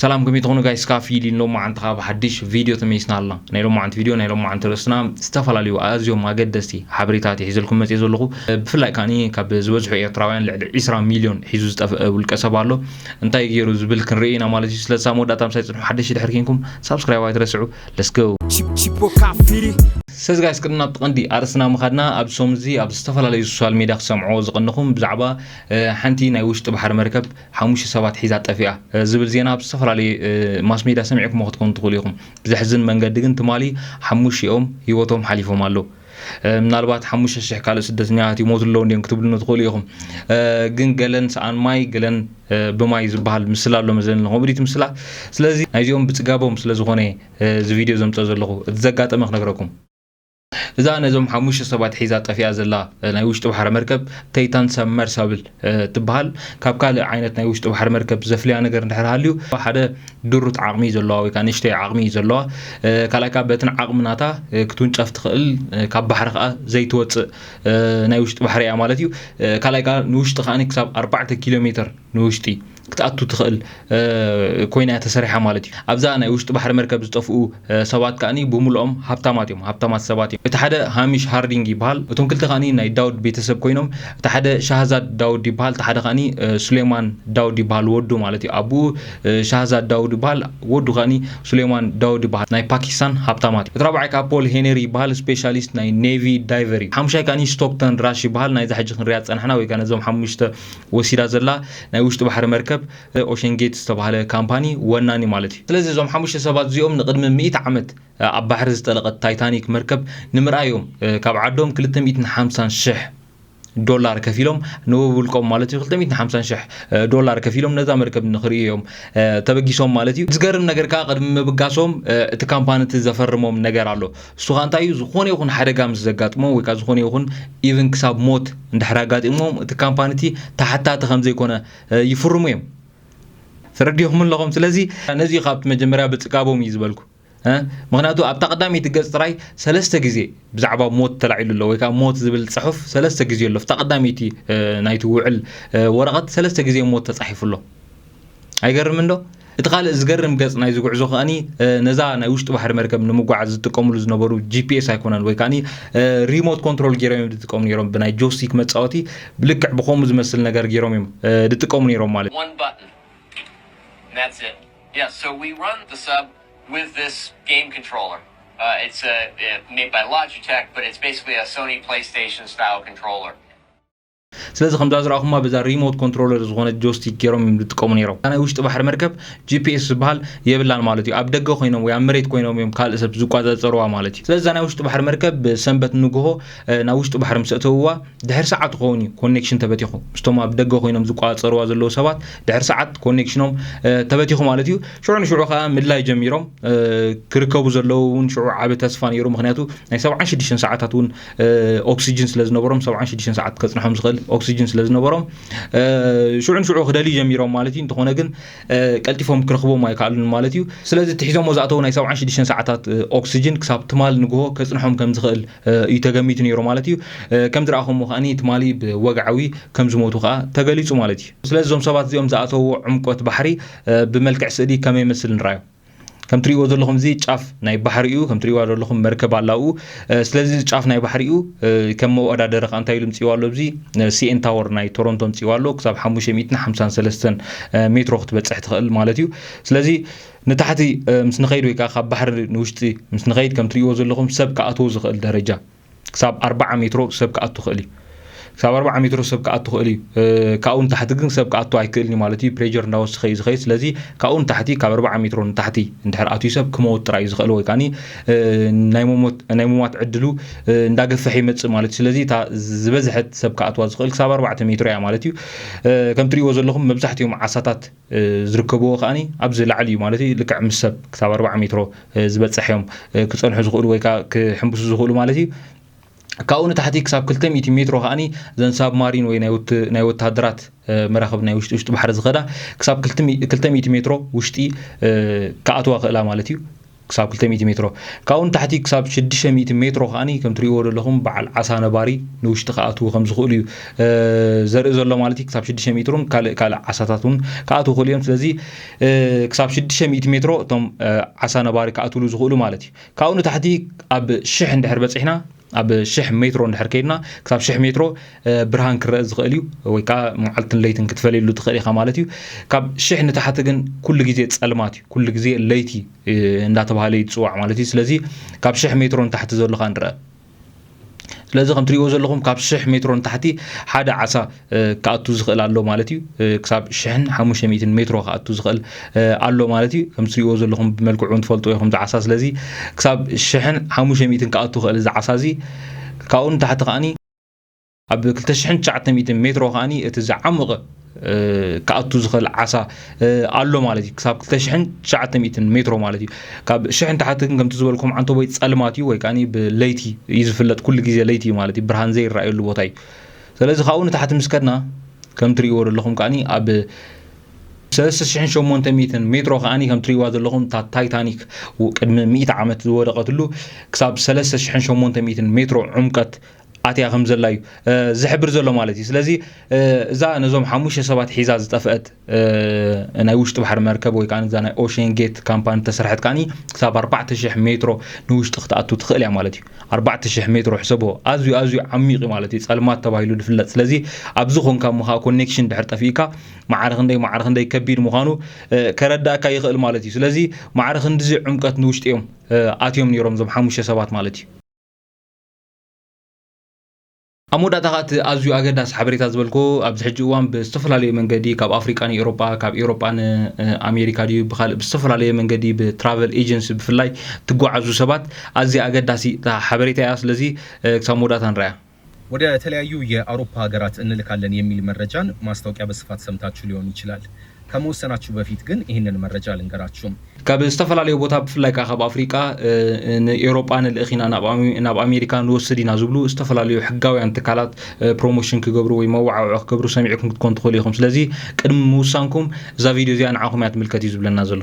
ሰላም ከመይ ትኾኑ ጋይስ ካብ ፊሊ ሎማዓንቲ ካብ ሓድሽ ቪድዮ ተመይስና ኣልና ናይ ሎማዓንቲ ቪድዮ ናይ ሎማዓንቲ ርእስና ዝተፈላለዩ ኣዝዮም ኣገደስቲ ሓበሬታት ይሒዘልኩም መጽየ ዘለኹ ብፍላይ ካኒ ካብ ዝበዝሑ ኤርትራውያን ልዕሊ 20 ሚልዮን ሒዙ ዝጠፍአ ውልቀ ሰብ ኣሎ እንታይ ገይሩ ዝብል ክንርኢ ኢና ማለት እዩ ስለዚ ሳብ መወዳእታ ምሳይ ጽንሑ ሓደሽቲ ድሕር ኪንኩም ሳብስክራይብ ኣይትረስዑ ለስ ጎ ስለዚ ጋይስ ቅድም ናብቲ ቀንዲ ኣርእስትና ምኻድና ኣብዚ ሰሙን እዚ ኣብ ዝተፈላለዩ ሶሻል ሜድያ ክሰምዕዎ ዝቐንኹም ብዛዕባ ሓንቲ ናይ ውሽጢ ባሕሪ መርከብ ሓሙሽተ ሰባት ሒዛ ጠፊኣ ዝብል ዜና ኣብ ዝተፈላለዩ ማስሜድያ ሰሚዕኩሞ ክትኮኑ ትኽእሉ ኢኹም። ብዘሕዝን መንገዲ ግን ትማሊ ሓሙሽኦም ህይወቶም ሓሊፎም ኣሎ። ምናልባት ሓሙሽተ ሽሕ ካልእ ስደተኛታት ይሞቱ ኣለዉ እንድዮም ክትብሉኒ ትኽእሉ ኢኹም። ግን ገለን ሰኣን ማይ ገለን ብማይ ዝበሃል ምስላ ኣሎ መዘለኒ ኮሜዲቲ ምስላ። ስለዚ ናይዚኦም ብጽጋቦም ስለ ዝኾነ እዚ ቪድዮ ዘምጽኦ ዘለኹ እቲ ዘጋጠመ ክነግረኩም። እዛ ነዞም ሓሙሽተ ሰባት ሒዛ ጠፊኣ ዘላ ናይ ውሽጢ ባሕሪ መርከብ ተይታን ሰብመርሳብል ትበሃል። ካብ ካልእ ዓይነት ናይ ውሽጢ ባሕሪ መርከብ ዘፍልያ ነገር እንድሕር ሃልዩ ሓደ ድሩት ዓቕሚ እዩ ዘለዋ ወይ ከዓ ንእሽተይ ዓቕሚ እዩ ዘለዋ። ካልኣይ ከዓ በትን ዓቕሚ ናታ ክትውንጨፍ ትኽእል ካብ ባሕሪ ከዓ ዘይትወፅእ ናይ ውሽጢ ባሕሪ እያ ማለት እዩ። ካልኣይ ከዓ ንውሽጢ ከዓ ክሳብ ኣርባዕተ ኪሎ ሜትር ንውሽጢ ክትኣቱ ትኽእል ኮይና እያ ተሰሪሓ ማለት እዩ ኣብዛ ናይ ውሽጢ ባሕሪ መርከብ ዝጠፍኡ ሰባት ከኣ ብሙሉኦም ሃብታማት እዮም ሃብታማት ሰባት እዮም እቲ ሓደ ሃሚሽ ሃርዲንግ ይበሃል እቶም ክልተ ከኣ ናይ ዳውድ ቤተሰብ ኮይኖም እቲ ሓደ ሻህዛድ ዳውድ ይበሃል እቲ ሓደ ከኣ ሱሌማን ዳውድ ይበሃል ወዱ ማለት እዩ ኣቡኡ ሻህዛድ ዳውድ ይበሃል ወዱ ከኣ ሱሌማን ዳውድ ይበሃል ናይ ፓኪስታን ሃብታማት እዩ እቲ ራብዓይ ከኣ ፖል ሄነሪ ይበሃል ስፔሻሊስት ናይ ኔቪ ዳይቨር እዩ ሓሙሻይ ከኣ ስቶክተን ራሽ ይበሃል ናይዛ ሕጂ ክንሪኣ ዝጸናሕና ወይ ከኣ ነዞም ሓሙሽተ ወሲዳ ዘላ ናይ ውሽጢ ባሕሪ መርከብ፣ The Ocean Gate፣ ዝተባህለ ካምፓኒ ወናኒ ማለት እዩ። ስለዚ እዞም ሓሙሽተ ሰባት እዚኦም ንቕድሚ ሚእቲ ዓመት ኣብ ባሕሪ ዝጠለቐት ታይታኒክ መርከብ ንምርኣይ እዮም ካብ ዓዶም ክልተ ሚእትን ሓምሳን ሽሕ ዶላር ከፊሎም ንውብውልቆም ማለት እዩ ክልተ ሚእትን ሓምሳን ሽሕ ዶላር ከፊሎም ነዛ መርከብ ንክርእዩ እዮም ተበጊሶም ማለት እዩ። ዝገርም ነገር ከኣ ቅድሚ ምብጋሶም እቲ ካምፓኒ እቲ ዘፈርሞም ነገር ኣሎ። እሱ ከኣ እንታይ እዩ ዝኾነ ይኹን ሓደጋ ምስ ዘጋጥሞ ወይ ከኣ ዝኾነ ይኹን ኢቭን ክሳብ ሞት እንድሕር ኣጋጢሞም እቲ ካምፓኒ እቲ ተሓታቲ ከም ዘይኮነ ይፍርሙ እዮም ተረዲኹም ኣለኹም ስለዚ ነዚ እዩ ካብቲ መጀመርያ ብጽጋቦም እዩ ዝበልኩ ምክንያቱ ኣብታ ቀዳመይቲ ገጽ ጥራይ ሰለስተ ግዜ ብዛዕባ ሞት ተላዒሉ ኣሎ ወይ ከዓ ሞት ዝብል ጽሑፍ ሰለስተ ግዜ ኣሎ ኣብታ ቀዳመይቲ ናይቲ ውዕል ወረቐት ሰለስተ ግዜ ሞት ተጻሒፉ ኣሎ ኣይገርምንዶ? እቲ ካልእ ዝገርም ገጽ ናይዚ ጉዕዞ ከኣ ነዛ ናይ ውሽጢ ባሕሪ መርከብ ንምጓዓዝ ዝጥቀምሉ ዝነበሩ ጂፒኤስ ኣይኮነን ወይ ከኣ ሪሞት ኮንትሮል ገይሮም እዮም ዝጥቀሙ ነይሮም ብናይ ጆስቲክ መጻወቲ ብልክዕ ብከምኡ ዝመስል ነገር ገይሮም እዮም ዝጥቀሙ ነይሮም ማለት እዩ ስለዚ ከምዛ ዝረኣኹማ በዛ ሪሞት ኮንትሮለር ዝኾነት ጆስቲክ ገይሮም እዮም ዝጥቀሙ ነይሮም። እታ ናይ ውሽጢ ባሕሪ መርከብ ጂፒኤስ ዝበሃል የብላን ማለት እዩ። ኣብ ደገ ኮይኖም ወይ ኣብ መሬት ኮይኖም እዮም ካልእ ሰብ ዝቆጻጸርዋ ማለት እዩ። ስለዚ እዛ ናይ ውሽጢ ባሕሪ መርከብ ብሰንበት ንግሆ ናብ ውሽጢ ባሕሪ ምስ ኣእተውዋ ድሕሪ ሰዓት ክኸውን እዩ ኮኔክሽን ተበቲኹ። ምስቶም ኣብ ደገ ኮይኖም ዝቆጻጸርዋ ዘለዉ ሰባት ድሕሪ ሰዓት ኮኔክሽኖም ተበቲኹ ማለት እዩ። ሽዑ ንሽዑ ከኣ ምድላይ ጀሚሮም ክርከቡ ዘለዉ እውን ሽዑ ዓቢ ተስፋ ነይሩ ምክንያቱ ናይ ሰብዓን ሽዱሽተን ሰዓታት እውን ኦክስጅን ስለ ዝነበሮም ሰብዓን ሽዱሽተን ሰዓት ከጽንሖም ዝኽእል ኦክስጅን ስለ ዝነበሮም ሽዑ ንሽዑ ክደልዩ ጀሚሮም ማለት እዩ እንተኾነ ግን ቀልጢፎም ክረኽቦም ኣይከኣሉን ማለት እዩ ስለዚ ትሒዞሞ ዝኣተው ናይ ሰብዓን ሽዱሽተን ሰዓታት ኦክስጅን ክሳብ ትማል ንግሆ ከጽንሖም ከም ዝኽእል እዩ ተገሚቱ ነይሩ ማለት እዩ ከም ዝረኣኹሞ ከኣ ትማሊ ብወግዓዊ ከም ዝሞቱ ከኣ ተገሊጹ ማለት እዩ ስለዚ እዞም ሰባት እዚኦም ዝኣተውዎ ዕምቆት ባሕሪ ብመልክዕ ስእሊ ከመይ መስል ንራዮ ከም ትሪእዎ ዘለኹም እዚ ጫፍ ናይ ባሕሪ እዩ ከም ትሪእዋ ዘለኹም መርከብ ኣላኡ ስለዚ እዚ ጫፍ ናይ ባሕሪ እዩ ከም መወዳደሪ ከዓ እንታይ ኢሉ ምፅዋ ኣሎ እዚ ሲኤን ታወር ናይ ቶሮንቶ ምፅዋ ኣሎ ክሳብ 553 ሜትሮ ክትበፅሕ ትኽእል ማለት እዩ ስለዚ ንታሕቲ ምስ ንኸይድ ወይ ከዓ ካብ ባሕሪ ንውሽጢ ምስ ንኸይድ ከም ትሪእዎ ዘለኹም ሰብ ክኣትዎ ዝኽእል ደረጃ ክሳብ ኣርባዓ ሜትሮ ሰብ ክኣቱ ክእል እዩ ክሳብ ኣርባዓ ሜትሮ ሰብ ክኣቱ ክእል እዩ ካብኡ ንታሕቲ ግን ሰብ ክኣቱ ኣይክእልን እዩ ማለት እዩ ፕሬር እንዳወሰኸ እዩ ዝኸይድ ስለዚ ካብኡ ንታሕቲ ካብ ኣርባዓ ሜትሮ ንታሕቲ እንድሕር ኣትዩ ሰብ ክመወት ጥራይ እዩ ዝኽእል ወይ ከዓ ናይ ሙማት ዕድሉ እንዳገፈሐ ይመፅእ ማለት እዩ ስለዚ እታ ዝበዝሐት ሰብ ክኣትዋ ዝኽእል ክሳብ ኣርባዕተ ሜትሮ እያ ማለት እዩ ከም ትሪእዎ ዘለኹም መብዛሕትኦም ዓሳታት ዝርከብዎ ከኣ ኣብዚ ላዕሊ እዩ ማለት እዩ ልክዕ ምስ ሰብ ክሳብ ኣርብዓ ሜትሮ ዝበጽሕ እዮም ክጸንሑ ዝኽእሉ ወይ ከኣ ክሕምብሱ ዝኽእሉ ማለት እዩ ካብኡ ንታሕቲ ክሳብ 200 ሜትሮ ከኣ ዘን ሳብ ማሪን ወይ ናይ ወተሃደራት መራኽብ ናይ ውሽጢ ውሽጢ ባሕሪ ዝኸዳ ክሳብ 200 ሜትሮ ውሽጢ ክኣትዋ ክእላ ማለት እዩ ክሳብ ክልተ ሚእቲ ሜትሮ፣ ካብኡ ንታሕቲ ክሳብ ሽዱሽተ ሚእቲ ሜትሮ ከኣ ከም ትርእይዎ ዘለኹም በዓል ዓሳ ነባሪ ንውሽጢ ክኣትዉ ከም ዝኽእሉ እዩ ዘርኢ ዘሎ ማለት እዩ። ክሳብ ሽዱሽተ ሜትሮን ካልእ ካልእ ዓሳታት እውን ክኣትዉ ክኽእሉ እዮም። ስለዚ ክሳብ ሽዱሽተ ሚእቲ ሜትሮ እቶም ዓሳ ነባሪ ክኣትውሉ ዝኽእሉ ማለት እዩ። ካብኡ ንታሕቲ ኣብ ሽሕ እንድሕር በጺሕና ኣብ ሽሕ ሜትሮ እንድሕር ከይድና ክሳብ ሽሕ ሜትሮ ብርሃን ክረአ ዝኽእል እዩ ወይ ከዓ መዓልትን ለይትን ክትፈልየሉ ትኽእል ኢኻ ማለት እዩ ካብ ሽሕ ንታሕቲ ግን ኩሉ ግዜ ፀልማት እዩ ኩሉ ግዜ ለይቲ እንዳተባሃለ እዩ ዝፅዋዕ ማለት እዩ ስለዚ ካብ ሽሕ ሜትሮ ንታሕቲ ዘለኻ ንረአ ስለዚ ከም ትሪእዎ ዘለኹም ካብ ሽሕ ሜትሮ ንታሕቲ ሓደ ዓሳ ክኣቱ ዝኽእል ኣሎ ማለት እዩ ክሳብ ሽሕን ሓሙሽተ ሚእትን ሜትሮ ክኣቱ ዝኽእል ኣሎ ማለት እዩ ከም ትሪእዎ ዘለኹም ብመልክዑ ትፈልጡ ኢኹም እዚ ዓሳ ስለዚ ክሳብ ሽሕን ሓሙሽተ ሚእትን ክኣቱ ክእል እዚ ዓሳ እዚ ካብኡ ንታሕቲ ከዓኒ ኣብ ክልተ ሽሕን ትሽዓተ ሚእትን ሜትሮ ከዓኒ እቲ ዝዓሙቐ ክኣቱ ዝኽእል ዓሳ ኣሎ ማለት እዩ ክሳብ ክልተ ሽሕን ትሽዓተ ሚእትን ሜትሮ ማለት እዩ ካብ ሽሕን ታሕቲ ግን ከምቲ ዝበልኩም ዓንተቦይ ፀልማት እዩ ወይ ከዓኒ ብለይቲ እዩ ዝፍለጥ ኩሉ ግዜ ለይቲ እዩ ማለት እዩ ብርሃን ዘይረኣየሉ ቦታ እዩ ሰለዚ ካብኡ ንታሕቲ ምስ ከድና ከም ትርእይዎ ዘለኹም ከኣ ኣብ ሰለስተ ሽሕን ሸሞንተ ሚእትን ሜትሮ ከኣ ከም ትርእይዋ ዘለኹም እታ ታይታኒክ ቅድሚ ሚእቲ ዓመት ዝወደቐትሉ ክሳብ ሰለስተ ሽሕን ሸሞንተ ሚእትን ሜትሮ ዑምቀት ኣትያ ከም ዘላ እዩ ዝሕብር ዘሎ ማለት እዩ። ስለዚ እዛ ነዞም ሓሙሽተ ሰባት ሒዛ ዝጠፍአት ናይ ውሽጢ ባሕሪ መርከብ ወይ ከዓ እዛ ናይ ኦሽን ጌት ካምፓኒ ተሰርሐት ከዓኒ ክሳብ 4000 ሜትሮ ንውሽጢ ክትኣቱ ትኽእል እያ ማለት እዩ 4000 ሜትሮ ሕሰቦ ኣዝዩ ኣዝዩ ዓሚቕ እዩ ማለት እዩ ጸልማት ተባሂሉ ዝፍለጥ ስለዚ ኣብዚ ኮንካ እሞ ከዓ ኮኔክሽን ድሕር ጠፊእካ ማዕረ ክንደይ ማዕረ ክንደይ ከቢድ ምዃኑ ከረዳእካ ይኽእል ማለት እዩ ስለዚ ማዕረ ክንዲዚ ዕምቀት ንውሽጢ እዮም ኣትዮም ነይሮም እዞም ሓሙሽተ ሰባት ማለት እዩ ኣብ መወዳእታ ከኣ እቲ ኣዝዩ ኣገዳሲ ሓበሬታ ዝበልክዎ ኣብዚ ሕጂ እዋን ብዝተፈላለዩ መንገዲ ካብ ኣፍሪቃ ንኤውሮጳ ካብ ኤውሮጳ ን ኣሜሪካ ድዩ ብካልእ ብዝተፈላለየ መንገዲ ብትራቨል ኤጀንሲ ብፍላይ ትጓዓዙ ሰባት ኣዝያ ኣገዳሲ ሓበሬታ እያ ስለዚ ክሳብ መወዳእታ ንርኣያ። ወደ ተለያዩ የኣውሮፓ ሀገራት እንልካለን የሚል መረጃን ማስታወቂያ በስፋት ሰምታቹ ሊሆን ይችላል። ከመወሰናቹ በፊት ግን ይህንን መረጃ ልንገራቹ። ካብ ዝተፈላለዩ ቦታ ብፍላይ ከኣ ካብ ኣፍሪቃ ንኤውሮጳ ንልእኽ ኢና ናብ ኣሜሪካ ንወስድ ኢና ዝብሉ ዝተፈላለዩ ሕጋውያን ትካላት ፕሮሞሽን ክገብሩ ወይ መወዓውዒ ክገብሩ ሰሚዕኩም ክትኮኑ ትኽእሉ ኢኹም። ስለዚ ቅድሚ ምውሳንኩም እዛ ቪድዮ እዚኣ ንዓኹም እያ ትምልከት እዩ ዝብለና ዘሎ።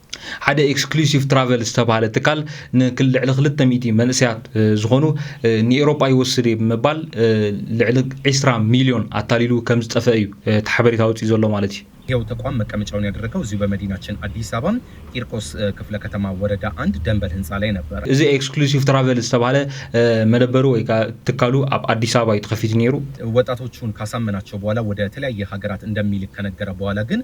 ሓደ ኤክስክሉሲቭ ትራቨል ዝተባሃለ ትካል ንልዕሊ ክልተ ሚእቲ መንእሰያት ዝኾኑ ንኤሮጳ ይወስድ እየ ብምባል ልዕሊ ዒስራ ሚልዮን ኣታሊሉ ከም ዝጠፈ እዩ እቲ ሓበሬታ ወጺኡ ዘሎ ማለት እዩ። ይኸው ተቋም መቀመጫውን ያደረገው እዚሁ በመዲናችን አዲስ አበባ ቂርቆስ ክፍለ ከተማ ወረዳ አንድ ደንበል ህንፃ ላይ ነበር። እዚ ኤክስክሉሲቭ ትራቨል ዝተባሃለ መደበሩ ወይ ከዓ ትካሉ ኣብ አዲስ አበባ እዩ ተኸፊቱ ነይሩ። ወጣቶቹን ካሳመናቸው በኋላ ወደ ተለያየ ሀገራት እንደሚልክ ከነገረ በኋላ ግን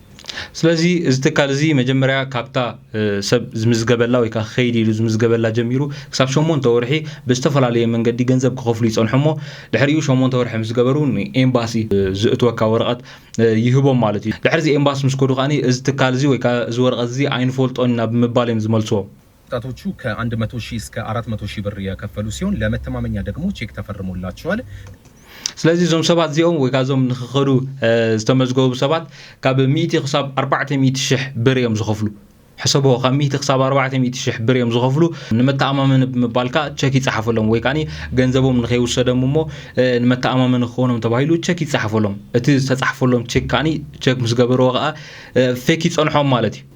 ስለዚ እዚ ትካል እዚ መጀመርያ ካብታ ሰብ ዝምዝገበላ ወይ ከዓ ክኸይድ ኢሉ ዝምዝገበላ ጀሚሩ ክሳብ ሸሞንተ ወርሒ ብዝተፈላለየ መንገዲ ገንዘብ ክኸፍሉ ይፀንሑ እሞ ድሕሪኡ ሸሞንተ ወርሒ ምስ ገበሩ ንኤምባሲ ዝእትወካ ወረቐት ይህቦም ማለት እዩ። ድሕሪ እዚ ኤምባሲ ምስ ከዱ ከዓኒ እዚ ትካል እዚ ወይ ከዓ እዚ ወረቐት እዚ ኣይንፈልጦን ኢና ብምባል እዮም ዝመልስዎም። ወጣቶቹ ከአንድ መቶ ሺህ እስከ አራት መቶ ሺህ ብር የከፈሉ ሲሆን ለመተማመኛ ደግሞ ቼክ ተፈርሞላቸዋል። ስለዚ እዞም ሰባት እዚኦም ወይ ከዓ እዞም ንክኸዱ ዝተመዝገቡ ሰባት ካብ ሚእቲ ክሳብ ኣርባዕተ ሚእቲ ሽሕ ብር እዮም ዝኸፍሉ ሕሰቦ ካብ ሚእቲ ክሳብ ኣርባዕተ ሚእቲ ሽሕ ብር እዮም ዝኸፍሉ ንመተኣማመኒ ብምባል ከዓ ቸክ ይፀሓፈሎም ወይ ከዓ ገንዘቦም ንከይውሰደም እሞ ንመተኣማመኒ ክኾኖም ተባሂሉ ቸክ ይፀሓፈሎም እቲ ዝተፃሕፈሎም ቼክ ከዓ ቸክ ምስ ገበርዎ ከዓ ፌክ ይፀንሖም ማለት እዩ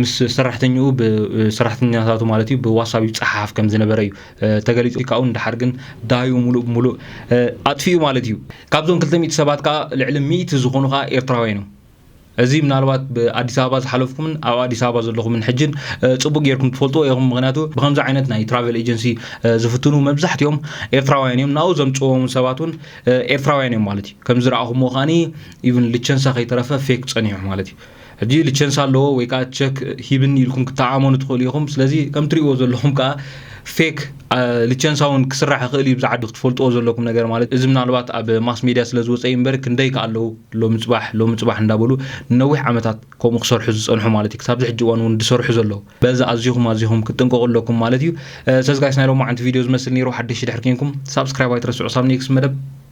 ምስ ሰራሕተኛኡ ሰራሕተኛታቱ ማለት እዩ ብዋሳብ ይፀሓፍ ከም ዝነበረ እዩ ተገሊፁ ካብኡ ንደሓር ግን ዳዩ ሙሉእ ብሙሉእ ኣጥፊኡ ማለት እዩ ካብዞም 200 ሰባት ከዓ ልዕሊ 100 ዝኾኑ ከዓ ኤርትራውያን እዮም እዚ ምናልባት ብኣዲስ ኣበባ ዝሓለፍኩምን ኣብ ኣዲስ ኣበባ ዘለኹምን ሕጅን ፅቡቅ ጌርኩም ትፈልጥዎ ኢኹም ምክንያቱ ብከምዚ ዓይነት ናይ ትራቨል ኤጀንሲ ዝፍትኑ መብዛሕትኦም ኤርትራውያን እዮም ናብኡ ዘምፅዎም ሰባት እውን ኤርትራውያን እዮም ማለት እዩ ከም ዝረኣኹምዎ ከዓኒ ኢቭን ልቸንሳ ከይተረፈ ፌክ ፀኒሑ ማለት እዩ ሕጂ ልቸንስ ኣለዎ ወይ ከኣ ቸክ ሂብኒ ኢልኩም ክትተዓመኑ ትኽእሉ ኢኹም። ስለዚ ከም ትርእይዎ ዘለኹም ከኣ ፌክ ልቸንሳ እውን ክስራሕ ይኽእል እዩ፣ ኣብዚ ዓዲ ክትፈልጥዎ ዘለኩም ነገር ማለት እዚ ምናልባት ኣብ ማስ ሜድያ ስለ ዝወጸ እዩ እምበር ክንደይ ከኣ ኣለዉ ሎሚ ጽባሕ ሎሚ ጽባሕ እንዳበሉ ንነዊሕ ዓመታት ከምኡ ክሰርሑ ዝጸንሑ ማለት እዩ ክሳብዚ ሕጂ እዋን እውን ዝሰርሑ ዘለዉ በዚ ኣዚኹም ኣዚኹም ክትጥንቀቑ ኣለኩም ማለት እዩ። ስለዚ ጋይስ ናይ ሎማዓንቲ ቪድዮ ዝመስል ነይሩ፣ ሓደሽቲ ድሕሪ ኬንኩም ሳብስክራይብ ኣይትረስዑ ሳብ ኔክስት መደብ